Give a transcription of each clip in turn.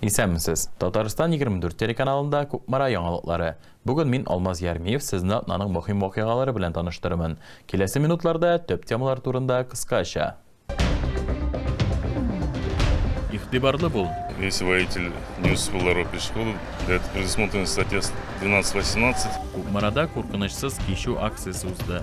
Исәнмесез! Татарстан 24 телеканалында Кукмара яңалыклары. Бүген мин, Алмаз Ярмиев, сезне атнаның мөһим вакыйгалары белән таныштырырмын. Киләсе минутларда төп темалар турында кыскача. Игътибарлы бул! Весь воитель News был ларок и школы, для этого предусмотрена статья 12 18. Кукмарада куркынычсыз кичү акциясе узды.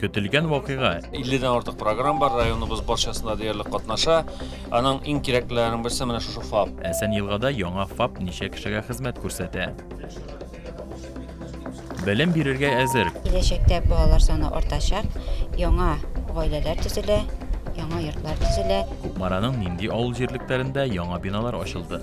Көтелгән вакыйга. 50-дән артык программ бар, районыбыз барчасында диярлек катнаша. Аның иң кирәклеләренең берсе менә шушы ФАП. Әсән елгада яңа ФАП ничә кешегә хезмәт күрсәтә? Белем бирергә әзер. Киләчәктә балалар саны артачак, яңа гаиләләр төзелә, яңа йортлар төзелә. Кукмараның нинди авыл җирлекләрендә яңа биналар ачылды?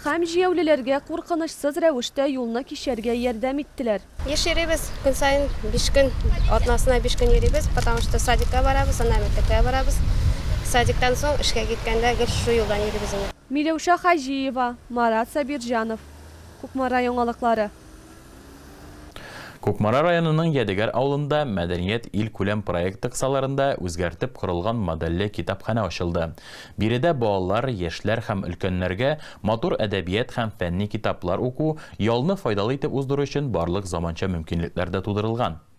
Һәм җияүлеләргә куркынычсыз рәвештә юлны кичәргә ярдәм иттеләр. Еш йөрибез, көн саен биш көн, атнасына биш көн йөрибез, потому что садикка барабыз, аннан мәктәпкә барабыз. Садиктан соң эшкә киткәндә гел шушы юлдан йөрибез инде. Миләүшә Хаҗиева, Марат Сабирҗанов, Кукмара яңалыклары. Кукмара районының Ядегәр авылында Мәдәният илкүләм проекты кысаларында үзгәртеп корылган модельле китапханә ачылды. Биредә балалар, яшьләр һәм өлкәннәргә матур әдәбият һәм фәнни китаплар уку, ялны файдалы итеп уздыру өчен барлык заманча мөмкинлекләр дә тудырылган.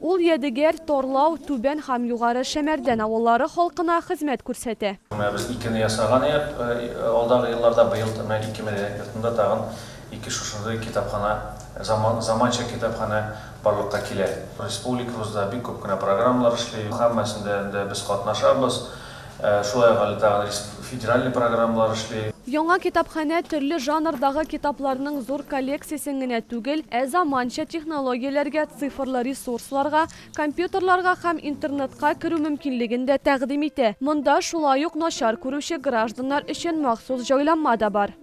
Ул Ядегәр, Тарлау, Түбән һәм Югары Шәмәрдән авыллары халкына хезмәт күрсәтә. Менә без икене ясаган идек алдагы елларда, быел менә ике мәдәният йортында тагын ике шушындый китапханә, заманча китапханә барлыкка килә. Республикабызда бик күп кенә программалар эшли, һәммәсендә дә без катнашабыз. Шулай ук әле тагын федераль программалар эшли. Яңа китапханә төрле жанрдагы китапларның зур коллекциясен генә түгел, ә заманча технологияләргә, цифрлы ресурсларга, компьютерларга һәм интернетка керү мөмкинлеген дә тәкъдим итә. Монда шулай ук начар күрүче гражданнар өчен махсус җайланма да бар.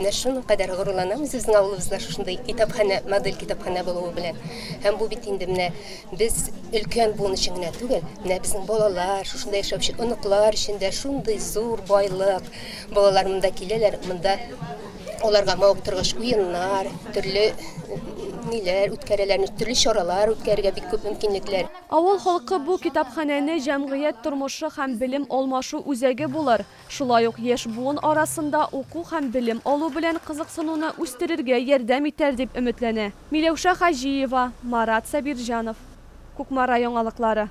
Менә шуникадәр горурланабыз безнең авылыбызда шушындый китапханә, модель китапханә булуы белән. Һәм бу бит инде менә без өлкән буын өчен генә түгел, менә безнең балалар, шушында яшәүче оныклар өчен дә шундый зур байлык. Балалар монда киләләр, монда аларга мавыктыргыч уеннар, төрле ниләр үткәрәләр, төрле чаралар үткәрергә бик күп мөмкинлекләр. Авыл халкы бу китапханәне җәмгыять тормышы һәм белем алмашу үзәге булыр, Шулай ук яшь буын арасында уку һәм белем алу белән кызыксынуны үстерергә ярдәм итәр дип өметләнә. Миләүшә Хаҗиева, Марат Сабирҗанов. Кукмара яңалыклары.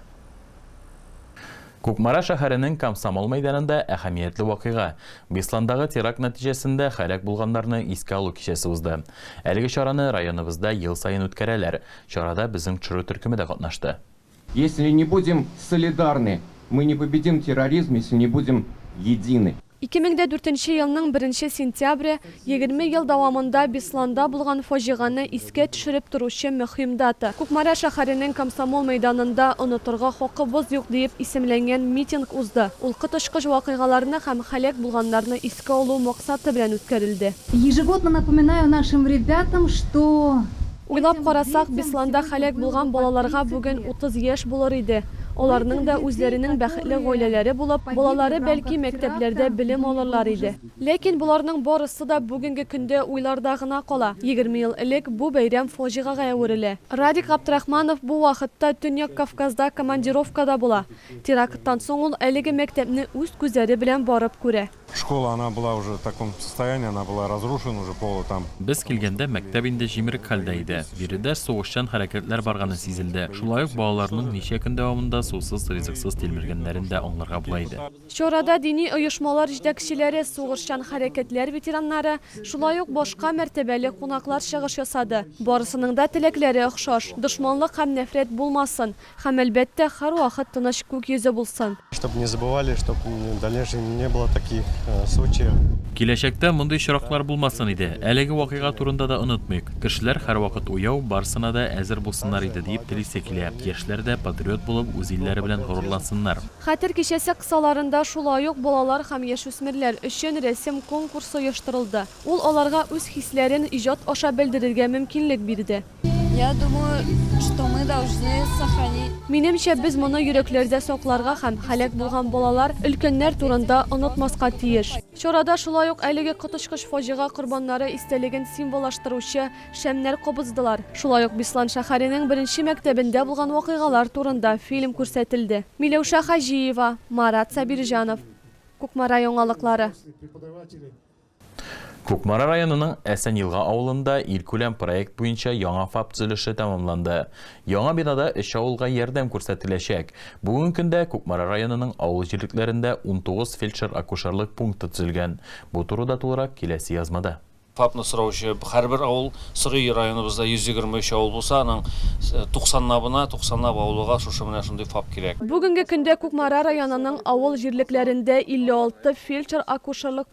Кукмара шәһәренең Комсомол мәйданында әһәмиятле вакыйга, Бесландагы теракт нәтиҗәсендә һәлак булганнарны искә алу кичәсе узды. Әлеге чараны районыбызда ел саен үткәрәләр, чарада безнең ТШРУ төркеме дә катнашты. Если не будем солидарны, мы не победим терроризм, если не будем едины. Ике мең дә дүртенче елның беренче сентябре, егерме ел дәвамында Бесланда булган фаҗигане искә төшереп торучы мөһим дата. Кукмара шәһәренең Комсомол мәйданында Онытырга хакыбыз юк диеп исемләнгән митинг узды. Ул коточкыч вакыйгаларны һәм һәлак булганнарны искә алу максаты белән үткәрелде. Ежегодно напоминаю нашим ребятам, что Уйлап карасак, Бесланда һәлак булган балаларга бүген 30 яшь булыр иде. Аларның да үзләренең бәхетле гаиләләре булып, балалары, бәлки, мәктәпләрдә белем алырлар иде. Ләкин боларның барысы да бүгенге көндә уйларда гына кала. Егерме ел элек бу бәйрәм фаҗигагә әверелә. Радик Габдрахманов бу вакытта Төньяк Кавказда командировкада була. Теракттан соң ул әлеге мәктәпне үз күзләре белән барып күрә. Школа она была уже в таком состоянии, она была разрушена уже полы там. Без килгәндә мәктәп инде җимерек хәлдә иде. Биредә сугышчан хәрәкәтләр барганы сизелде. Шулай ук балаларның ничә көн дәвамында сусыз-ризыксыз тилмергәннәрен дә аңларга була иде. Чарада дини оешмалар җитәкчеләре, сугышчан хәрәкәтләр ветераннары, шулай ук башка мәртәбәле кунаклар чыгыш ясады. Барысының да теләкләре охшаш, дошманлык һәм нәфрәт булмасын, Һәм, әлбәттә, һәрвакыт тыныч күк йөзе булсын! Чтоб не забывали, чтоб в дальнейшем не было таких случаев. Киләчәктә мондый очраклар булмасын иде, әлеге вакыйга турында да онытмыйк, кешеләр һәрвакыт уяу, барсына да әзер булсыннар иде, диеп телисе килә, яшьләр дә патриот булып үз илләре белән горурлансыннар. Хәтер кичәсе кысаларында шулай ук балалар һәм яшүсмерләр өчен рәсем конкурсы оештырылды. Ул аларга үз хисләрен иҗат аша белдерергә мөмкинлек бирде. Минемчә, без моны йөрәкләрдә сакларга һәм һәлак булган балалар, өлкәннәр турында онытмаска тиеш. Чарада шулай ук әлеге коточкыч фаҗига корбаннары истәлеген символлаштыручы шәмнәр кабыздылар. Шулай ук Беслан шәһәренең беренче мәктәбендә булган вакыйгалар турында фильм күрсәтелде. Миләүшә Хаҗиева, Марат Сабирҗанов, Кукмара яңалыклары. Кукмара районының Әсәньелга авылында илкүләм проект буенча яңа ФАП төзелеше тәмамланды. Яңа бинада өч авылга ярдәм күрсәтеләчәк. Бүгенге көндә Кукмара районының авыл җирлекләрендә унтугыз фельдшер-акушерлык пункты төзелгән. Бу турыда тулырак киләсе язмада. ФАПны сораучы һәрбер авыл, Согеи районыбызда 123 авыл булса, аның туксанлабына, туксанлап авылыга шушы менә шундый ФАП кирәк. Бүгенге көндә Кукмара районының авыл җирлекләрендә 56 фельдшер-акушерлык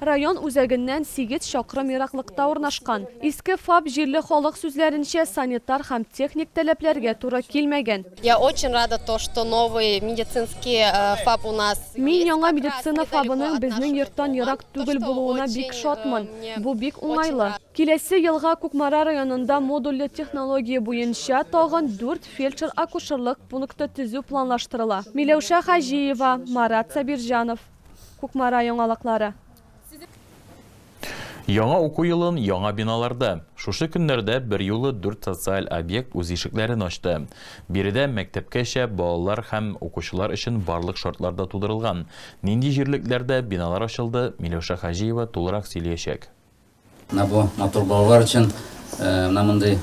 Район үзәгеннән сигез чакрым ераклыкта урнашкан Иске Фап җирле халык сүзләренчә санитар һәм техник таләпләргә туры килмәгән. Я очень рада то, что новый медицинский Фап у нас есть. Мин яңа медицина Фабының безнең йорттан ерак түгел булуына бик шатмын. Бу бик уңайлы. Киләсе елга Кукмара районында модульле технология буенча тагын дүрт фельдшер-акушерлык пункты төзү планлаштырыла. Миләүшә Хаҗиева, Марат Сабирҗанов. Кукмара яңалыклары. Яңа уку елын яңа биналарда. Шушы көннәрдә берьюлы дүрт социаль объект үз ишекләрен ачты. Биредә мәктәпкәчә балалар һәм укучылар өчен барлык шартлар да тудырылган. Нинди җирлекләрдә биналар ачылды, Миләүшә Хаҗиева тулырак сөйлиячәк. Менә бу матур балалар өчен менә мондый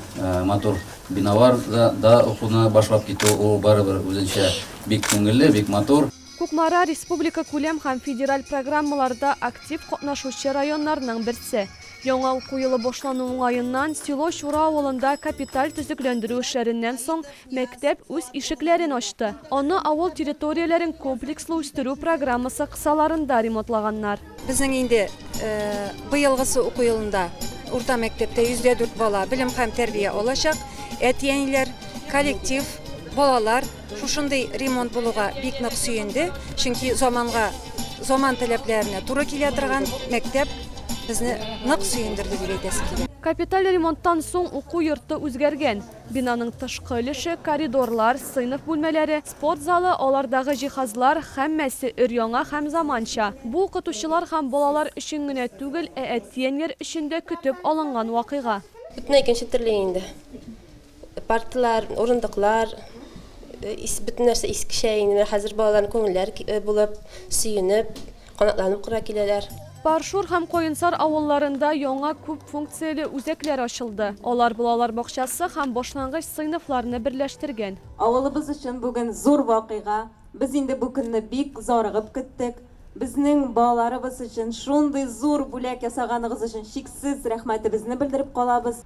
матур биналар да укуны башлап китү ул барыбер үзенчә бик күңелле, бик матур. Кукмара, республикакүләм һәм федераль программаларда актив катнашучы районнарның берсе. Яңа уку елы башлану уңаеннан, село Чура авылында капиталь төзекләндерү эшләреннән соң, Мәктәп үз ишекләрен ачты. Аны авыл территорияләрен комплекслы үстерү программасы кысаларында ремонтлаганнар. Безнең инде быелгысы уку елында урта мәктәптә 104 бала белем һәм тәрбия алачак. Әти-әниләр, коллектив, балалар шушындый ремонт булуга бик нык сөенде, чөнки заманга, заман таләпләренә туры килә торган мәктәп безне нык сөендерде дип әйтәсе килә. Капиталь ремонттан соң уку йорты үзгәргән. Бинаның тышкы өлеше, коридорлар, сыйныф бүлмәләре, спорт залы, алардагы җиһазлар, һәммәсе өр-яңа һәм заманча. Бу укытучылар һәм балалар өчен генә түгел, ә әтиәниләр өчен дә көтеп алынган вакыйга. Бөтенләй икенче төрле инде. Парталар, урындыклар, бөтен нәрсә искечә инде. Менә хәзер балаларның күңелләре булып, сөенеп. Канатланып кыра киләләр. Паршур һәм Каенсар авылларында яңа күп функцияле үзәкләр ачылды. Алар балалар бакчасы һәм башлангыч сыйныфларны берләштергән. Авылыбыз өчен бүген зур вакыйга. Без инде бу көнне бик зарыгып көттек. Безнең балаларыбыз өчен шундый зур бүләк ясаганыгыз өчен чиксез рәхмәтебезне белдереп калабыз.